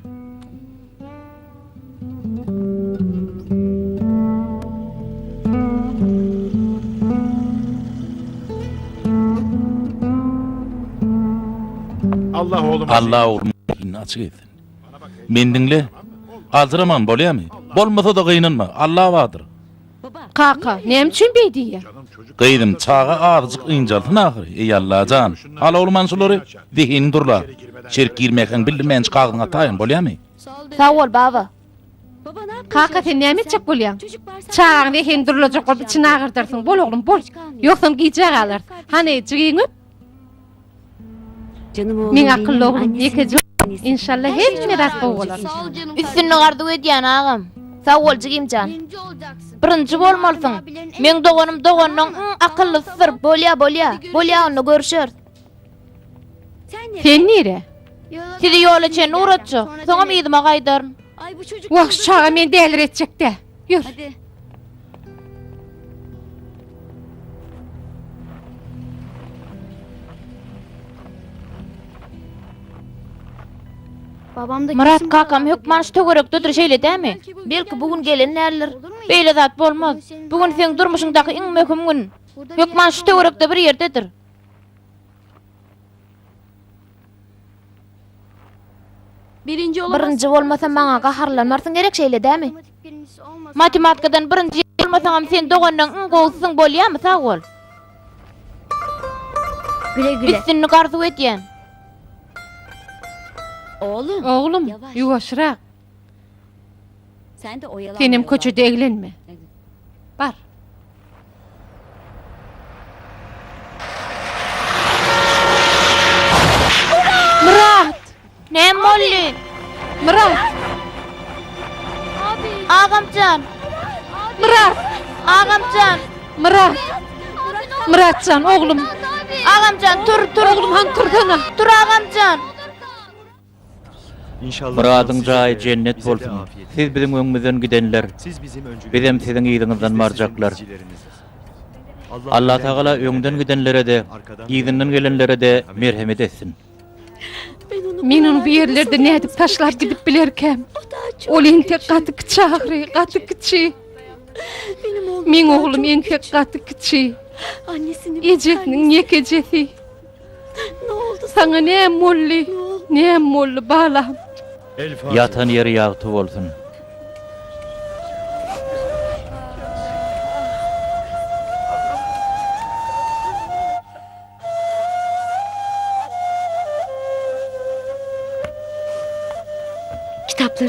Allah ogluma zeýin açyk etsin. Men diňle. Aljyraman bolýamy? Bolmasa-da gynanma, Alla bardyr. Kaka, näme üçin beý diýýä? Gyzym, çaga azajyk ynjalsyn ahyry, eý Alla jan. Al oglum han şulary, zehiniň durlar. Şerik girmäkäň bildirmänji kagyzyňy ataýyn, bolýamy? Sag bol, baba. Kaka, sen näme etjek bolýaň? Çagaň zehini durlajak bolup içini agyrdarsyň. Bol oglum, bol. Ýogsam gijä galarys. Hany, jigiňi öp. Meň akylly oglum ýekeje Inşallah hemme zat gowy bolar. Üstünlik arzuw edýän agam. Sag bol jigimjan. Birinji bolmalysyň. Meň doganym doganynyň iň akyllysydyr. Bolýa bolýa. Bolýa onda görüşeris. Sen nire? Sizi ýola çenli ugratjak. Soňam yzyma gaýdaryn. Wah şu çaga meni däliretjekdä. Ýör. Hadi. Babam da Murat kesin kakam buralarda hökman şu geldi. töwerekdedir şeýle dämi? Belki bu gün gelen däldir. Olur mu? Beýle zat bolmaz. Bu gün seň durmuşyňdaky iň möhüm gün. Burada bir Hökman şu ýerde töwerekde bir ýerdedir. Birinji olamazsyň. Birinji bolmasa maňa gaharlanmarsyň gerek şeýle dämi? Matematikadan birinji bolmasaňam sen dogandan iň gowusysyň bolýamy sag bol. Güle güle. Üstünlik arzuw edýän. Oglum. Oglum, ýuwaşrak. Senem köçede eglenme. Bar. Myrat! Näme boldy? Myrat! Agamjan! Myrat! Agamjan! Myrat! Myratjan, oglum! Agamjan, tur, tur! Oglum, han tursana! Tur, agamjan! Myradyň jaýy jennet bolsun. Siz biziň öňümizden gidenler. Bizem siziň yzyňyzdan barjaklar. Allatagala öňden gidenlerede, yzyndan gelenlerede merhemet etsin. Men ony bu ýerlerde nädip taşlap gidip bilerkäm? Ol entek gaty kiçi ahyry, gaty kiçi. Meň oglum entek gaty kiçi. Ejesiniň ýekejesi. Saňa näm boldy? Näm boldy, balam? Ýatan ýeri ýagty bolsun.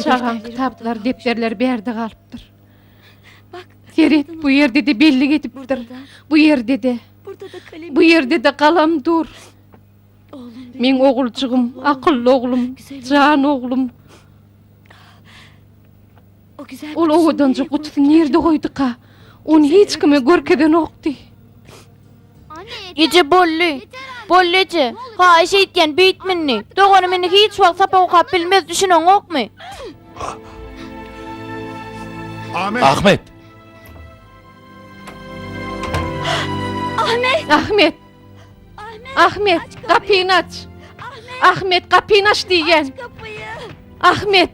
Çagaň kitaplary, depderleri bärde galypdyr. Seret, bu ýerde-de bellik edipdir. Bu ýerde-de. Bu ýerde-de galam dur. Meň oguljygym, akylly oglum, jan oglum. Ol owadanjyk gutusyny nirde goýduka? Ony hiç kime görkezenokdy. Eje bolly. Bolly eje. Haýyş eýtýän beýtme indi. Doganym indi hiç wagt sapak okap bilmez düşüneňokmy? Ahmet. Ahmet. Ahmet gapyny aç. Ahmet gapyny aç diýýän. Ahmet.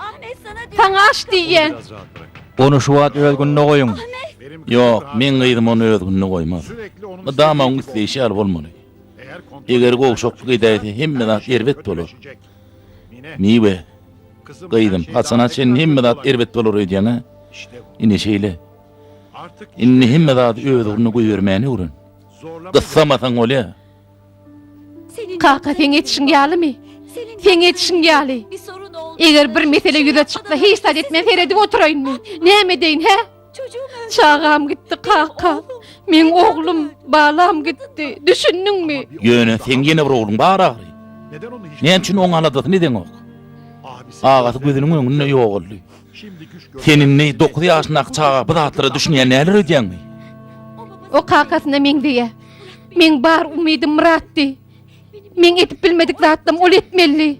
Saňa aç diýýän. Ony şu wagt öz gününe goýuň. Ýok, meň gyzym ony öz gününe goýmaz. Mydama oň isleýşi ýaly bolmaly. Eger gowşaklyk edäýse, hemme zat erbet bolar. Miwe, gyzym, haçana çenli hemme zat erbet bolar öýdýäň-ä? Ine şeýle. Indi hemme zady öz ugruna goýbermäni öwren. Gyssamasaň bolýar. Kaka seň etişiň ýalymy? Seň etişiň ýaly. Eger bir mesele ýüze çyksa, hiç zat etmän seredip oturaýynmy? Näme edeýin, hä? Çagam gitdi, kaka. Meň oglum, balam gitdi. Düşündiňmi? Ýöne seň ýene bir ogluň bar agry. Näme üçin oň aladasyny edeňok? Agasy gözüniň öňünde ýogaldy. Sen indi dokuz ýaşyndaky çaga bu zatlara düşünýä näler edýäňmi? O kakasyna meňzeýä. Meň bar umydym Myratdy. Meň edip bilmedik zatlam ol etmelidi.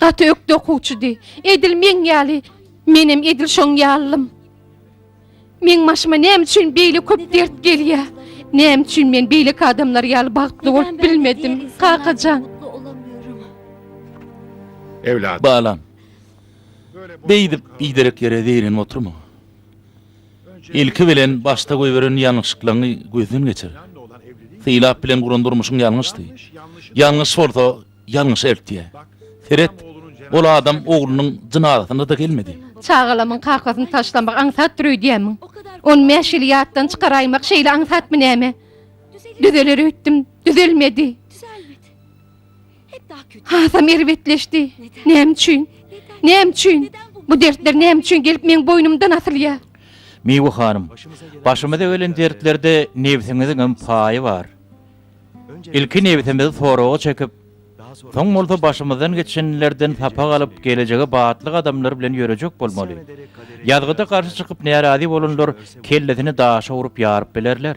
Gaty ökde okuwçydy. Edil meň ýaly. Menem edil şoň ýalym. Meň başyma näme üçin beýle köp dert gelýär? Näme üçin men beýleki adamlar ýaly bagtly bolup bilmedim? Kakajan. Balam. Beýdip biderek ýere zeýrenip oturma. Ilki bilen başda goýberen ýalňyşlyklaryňy gözden geçir. Sylap bilen guran durmuşyň ýalňyşdy. Ýalňyş bolsa, ýalňyşa eltýär. Seret, ol adam oglunyň jynazasyna-da gelmedi. Çagalamyň kakasyny taşlamak aňsatdyr öýdýämiň? On bäş ýyl ýatdan çykaraýmak şeýle aňsatmy näme? Düzeler öýtdüm, düzelmedi. Hasam erbetleşdi. Näme üçin? Näme üçin? Bu dertler näme üçin gelip meň boýnumdan asylýar? Miwe hanym, başymyza gelen dertlerde nebsiňiziňem paýy bar. Ilki nebsimizi soraga çekip, soň bolsa başymyzdan geçenlerden sapak alyp, gelejege batly gadamlar bilen ýörejek bolmaly. Ýazgyda garşy çykyp närazy bolanlar kellesini daşa urup ýaryp bilerler.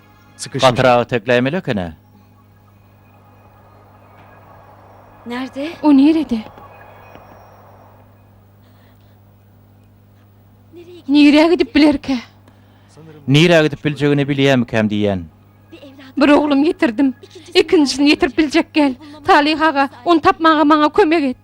Çykyşyň. Gatyrak itekläýmeli ekeni. Närde? O nirede? Nirä gidip bilerkä? Nirä gidip biljegini bilýämikäm diýýän. Bir oglum ýitirdim. Ikinjisini ýitirip biljek gel. Talyh aga, ony tapmaga maňa kömek et.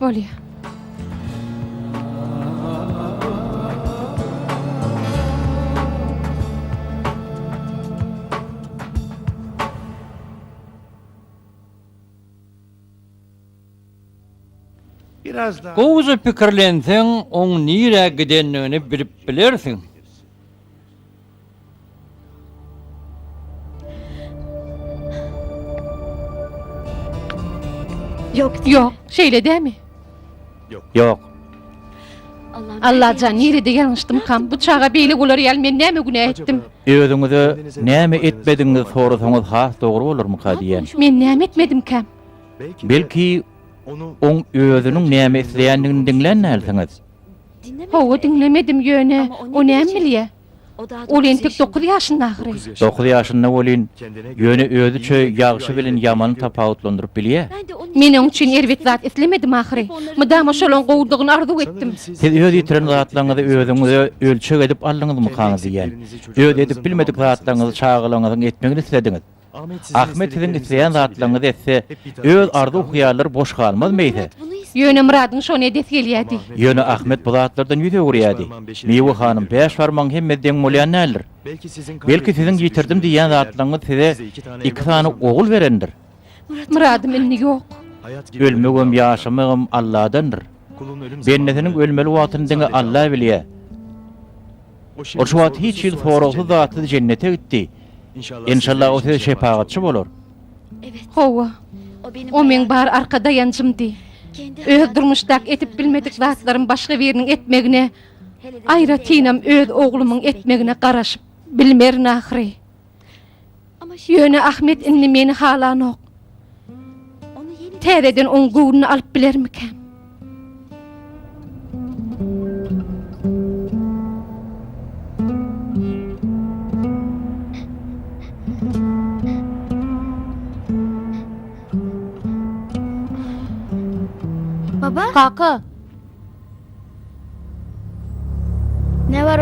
Bolýa. Gowja pikirlenseň oň nirä gidendigini bilip bilersiň. Ýok, Ýok, şeýle dämi? Ýok. Allajan, nirede ýalňyşdymkam? Bu çaga beýle bolar ýaly men näme günä etdim? Özüňize näme etmedigiňizi sorasaňyz has dogry bolarmyka diýýän. Men näme etmedimkäm? Belki, oň özüniň näme isleýändigini diňlän dälsiňiz? Hawa, diňlemedim, ýöne o näme bilýä? Ol entek dokuz ýaşynda ahyry. Dokuz ýaşynda welin, ýöne özi çöý ýagşy bilen ýamany tapawutlandyryp bilýä. Men oň üçin erbet zat islemedim ahyry. Mydama şolaň gowudygyny arzuw etdim. Siz öz ýitiren zatlaryňyzy özüňize ölçeg edip aldyňyzmykaňyz diýýän. Öz edip bilmedik zatlaryňyzy çagalaryňyzyň etmegini islediňiz. Ahmet siziň isleýän zatlaryňyzy etse, öz arzuw-hyýallary boş galmaz meýse? Ýöne Myradyň şony edesi gelýärdi. Ýöne Ahmet bu zatlardan ýüz öwürýärdi. Miwe hanym, bäş barmagyň hemme deň bolýan däldir. Belki siziň ýitirdim diýýän zatlaryňyz size iki sany ogul berendir? Myradym indi ýok. Ölmegem, ýaşamagam Alladandyr. Bendesiniň ölmeli wagtyny diňe Alla bilýär. Ol şu wagt hiç hili soragsyz-zatsyz jennete gitdi. Enşalla o size şepagatçy bolar. Hawa. O meň bar arka daýanjymdy. Öz durmuşdaky edip bilmedik zatlarym başga biriniň etmegine, aýratynam öz oglumyň etmegine garaşyp bilmerin ahyry. Ýöne Ahmet indi meni halanok. Täzeden oň göwnüni alyp bilermikäm? Baba? Kaka!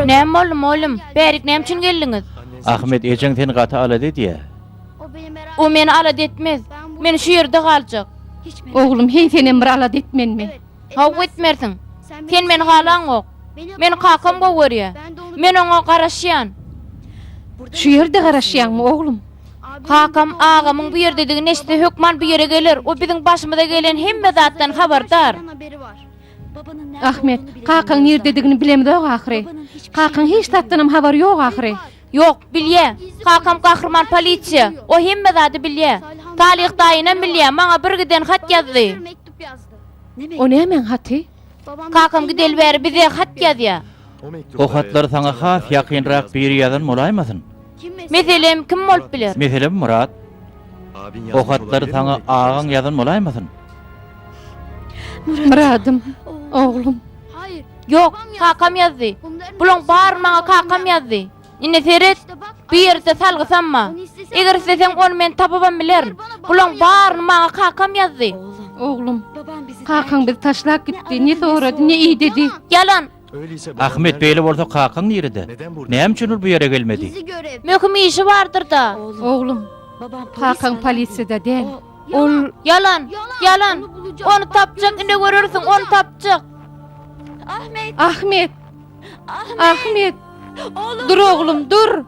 Näme boldy, mugallym? Bärik näme üçin geldiňiz? Ahmet ejeň seni gaty alada edýär. O meni alada etmez. Men şu ýerde galjak. Oglum, heý, senem bir alada et menmi? Hawa, etmersiň. Sen meni halaňok. Meni kakam gowy görýär. Men oňa garaşýan. Şu ýerde garaşýaňmy, oglum? Kakam, agamyň bu ýerdedigini eşitse, hökman bu ýere geler. O biziň başymyza gelen hemme zatdan habardar. Ahmet, kakaň nirdedigini bilemzok ahyry. Kakaň hiç zatdanam habary ýok ahyry. Ýok, bilýä. Kakam gahryman polisiýa. O hemme zady bilýä. Talyh daýynam bilýä, maňa birgiden hat ýazdy. O nämäň haty? Kakam gideli bäri bize hat ýazýa. O hatlary saňa has ýakynrak biri ýazan bolaýmasyn? Meselem, kim bolup biler? Meselem, Myrat. O hatlary saňa agaň ýazan bolaýmasyn? Myradym, oglum. Ýok, kakam ýazdy. Bulaň baryny maňa kakam ýazdy. Indi seret, bu ýerde salgy sanma. Eger isleseň, ony men tapybam bilerin. Bulaň baryny maňa kakam ýazdy. Oglum, kakaň bizi taşlap gitdi. Ne sorady, ne idedi? Ýalan! Ahmet beýle bolsa kakaň nirede? Näme üçin ol bu ýere gelmedi? Möhüm işi bardyr-da. Oglum, kakaň polisiýada däl. Ol... Ýalan! Ýalan! Ony tapjak, ine görersiň, ony tapjak! Ahmet! Ahmet! Dur oglum, dur!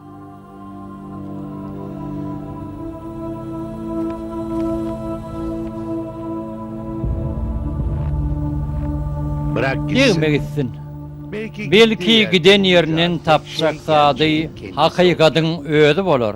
Degme gitsin. Belki giden ýeriniň tapjak zady hakykadyň özi bolar.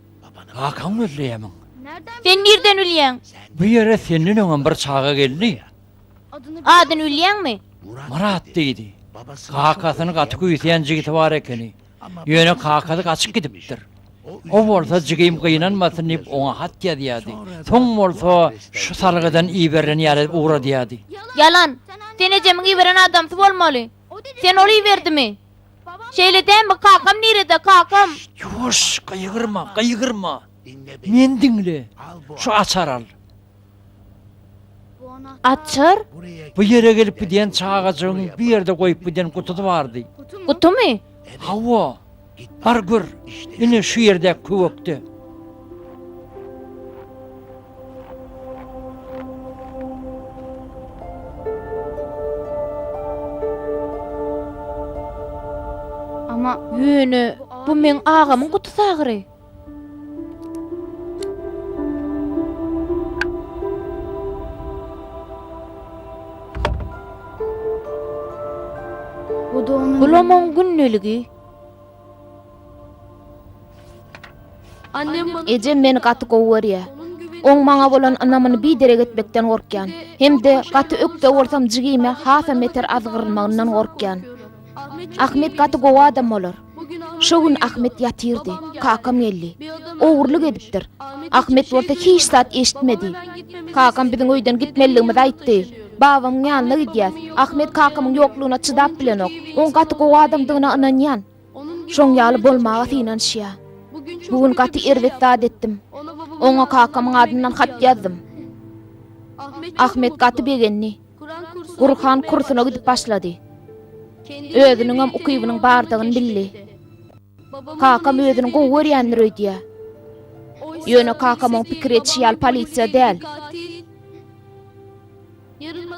Kakaň gözleýämiň? Sen nirden bilýäň? Bu ýere senden öňem bir çaga geldi. Adyny bilýäňmi? Myrat diýdi. Kakasyny gaty küýseýän jigisi bar ekeni. Ýöne kakasy gaçyp gidipdir. O bolsa jigim gynanmasyn diýip oňa hat ýazýardy. Soň bolsa şu salgydan iberilen ýaly edip ugradýardy. Ýalan. Sen ejemiň iberen adamsy bolmaly. Sen ol iberdimi? Şeýle dämi kakam nirede kakam. Ýuwaş gygyrma gygyrma meni diňle şu açar al. Açar? Bu ýere gelip gidýän çagajygyň bir ýerde goýup giden gutusy bardy. Gutumy? Hawa. Bar gör. Ine şu ýerdäki köwekde. Ýöne bu meň agamyň guty sagyry. Bulam oň gündäligi. Ejem meni gaty gowy görýär. Oň maňa bolan ynamyny biderek etmekden gorkýan. Hem-de gaty ökde bolsam jigime hasam beter azgyrylmagyndan gorkýan. Ahmet gaty gowy adam bolar. Şo gün Ahmet ýatyrdy. Kakam geldi. Ogurlyk edipdir. Ahmet bolsa hiç zat eşitmedi. Kakam biziň öýden gitmeligimizi aýtdy. Babamyň ýanyna gidýäs. Ahmet kakamyň ýoklugyna çydap bilenok. Oň gaty gowy adamdygyna ynanýan. Şoň ýaly bolmaga synanyşýa. Bu gün gaty erbet zat etdim. Oňa kakamyň adyndan hat ýazdym. Ahmet gaty begendi. Gurhan kursuna gidip başlady. Özüniňem ukybynyň bardygyny bildi. Kakam özüni gowy görýändir öýdýä. Ýöne kakam oň pikir etişi ýaly polisiýa däl.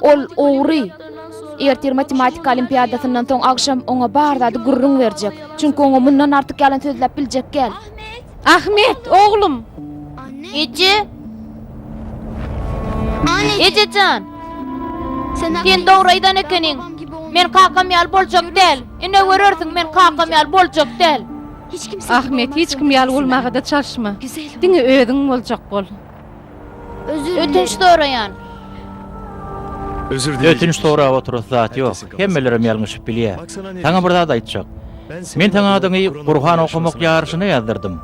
Ol ogry. Ertir matematika olimpiadasyndan soň agşam oňa bar zady gürrüň berjek. Çünki oňa mundan artyk ýalan sözläp biljek gel. Ahmet, oglum! Eje! Eje jan! Sen dogry aýdan ekeniň. Men kakam ýaly boljak däl. Ine görersiň, men kakam ýaly boljak däl. Ahmet, hiç kim ýaly bolmaga-da çalyşma. Diňe özüň boljak bol. Ötünç soraýan. Ötünç sorap oturasy zat ýok. Hemmelerem ýalňyşyp bilýä. Saňa bir zat aýtjak. Men saň adyňy Gurhan okamak ýaryşyna ýazdyrdym.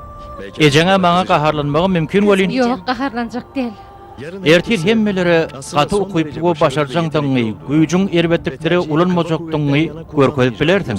Ejeňä maňa gaharlanmagym mümkin welin. Ýok, gaharlanjak däl. Ertir hemmelere gaty ukyply we başarjaňdygyňy, güýjüň erbetlikleri ulanmajakdygyňy görkezip bilersiň.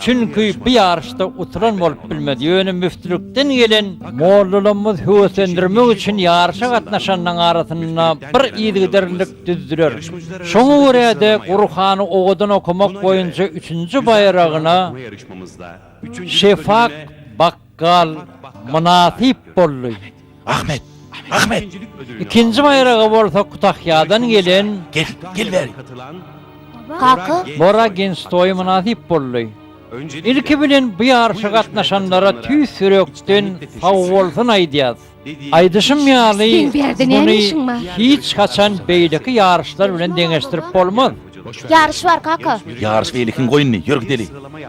Çünki bu ýaryşda utulan bolup bilmez, ýöne müftülikden gelen mollalarymyz höweslendirmek üçin ýaryşa gatnaşanlaryň arasynda bir yzygiderlilik düzdüler. Şoňa görä-de, Gurhany owadan okamak boýunça üçünji baýragyna Şefak bak. Gal mynasyp boldy. Ahmet! Ahmet! Ikinji baýraga bolsa Kutahýadan gelen. Gel, gel bäri. Kaka! Bora Genstoý mynasyp boldy. Ilki bilen bu ýaryşa gatnaşanlara tüýs ýürekden sagbolsun aýdýas. Aýdyşym ýaly, muny hiç haçan beýleki ýaryşlar bilen deňeşdirip bolmaz. Ýaryş bar, kaka. Ýaryş beýle kim goýundy, ýör gideli.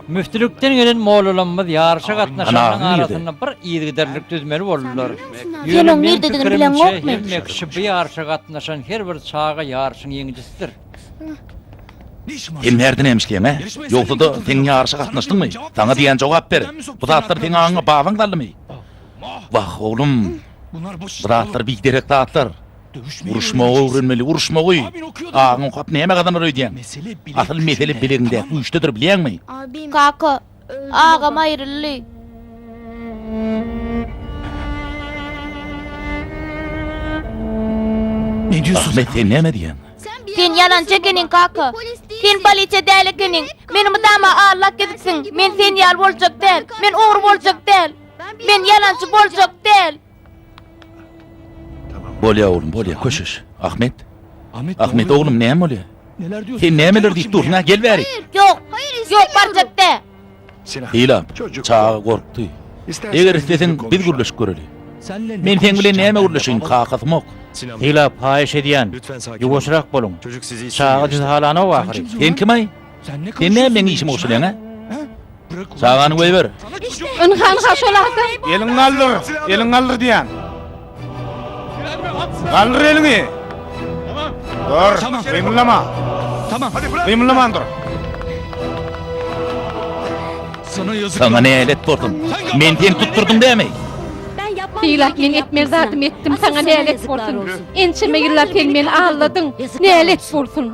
Müftülikden gelen mollalamyz ýaryşa gatnaşanyň arasynda bir yzygiderlilik düzmeli boldular. Ýöne meň pikirimçe, hemme kişi bu ýaryşa gatnaşan her bir çaga ýaryşyň ýeňijisidir. Sen närdin emşleýäň-ä? Ýogsa-da, sen ýaryşa gatnaşdyňmy? Saňa diýýän jogap ber. Bu zatlar seň aňyňa babaň saldymy? Wah, oglum, bu zatlar biderek zatlar. Uruşmagy öwrenmeli, uruşmagy. Agyň okap näme gazanar öýdýäň? Asyl mesele bilegiňdäki güýçdedir, bilýäňmi? Kaka, agam aýryldy. Ahmet, sen näme diýýäň? Sen ýalançy ekeniň, kaka. Sen polisiýa däl ekeniň. Meni mydama aldap gezipsiň. Men sen ýaly boljak däl. Men ogry boljak däl. Men ýalançy boljak däl. Bolýar oglum, bolýar, köşeş. Ahmet. Ahmet oglum, näme bolýar? Sen nämeler diýip dursuň-a, gel bäri. Ýok, ýok, barjak däl. Hylap, çaga gorkdy. Eger isleseň, biz gürleşip göreli. Men seň bilen näme gürleşeýin, kakasymok. Hylap, haýyş edýän, ýuwaşrak boluň. Çaga sizi halanok ahyry. Sen kim-aý? Sen näme meň işime goşulýaň, hä? Çagany goýber. Ynha, ynha, şol adam. Eliňi galdyr, eliňi galdyr diýýän. Galdyr eliňi. Dur, gymyldama. Tamam. Gymyldaman dur. Sana yazık. Sana ne elet bordum. Men diyen tutturdun değil mi? Hilak men etmez zadım ettim sana ne elet bordun. Ençeme yıllar sen beni ağladın. Ne elet bordun.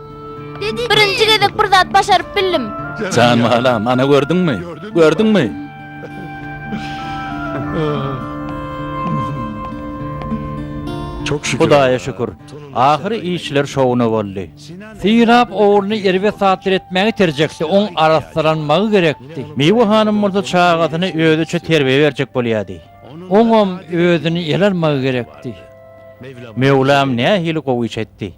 Birinji gezek bir zat başaryp bildim. Jan balam, ana gördüňmi? Gördüňmi? Hudaýa şükür, ahyry işler şowuna boldy. Synap ogluny erbet zatlar etmäge iterjekdi, oň arassalanmagy gerekdi. Miwe hanym bolsa çagasyna özüçe terbiýe berjek bolýardy. Oňam özüni ele almagy gerekdi. Möwlam nähili gowy iş etdi!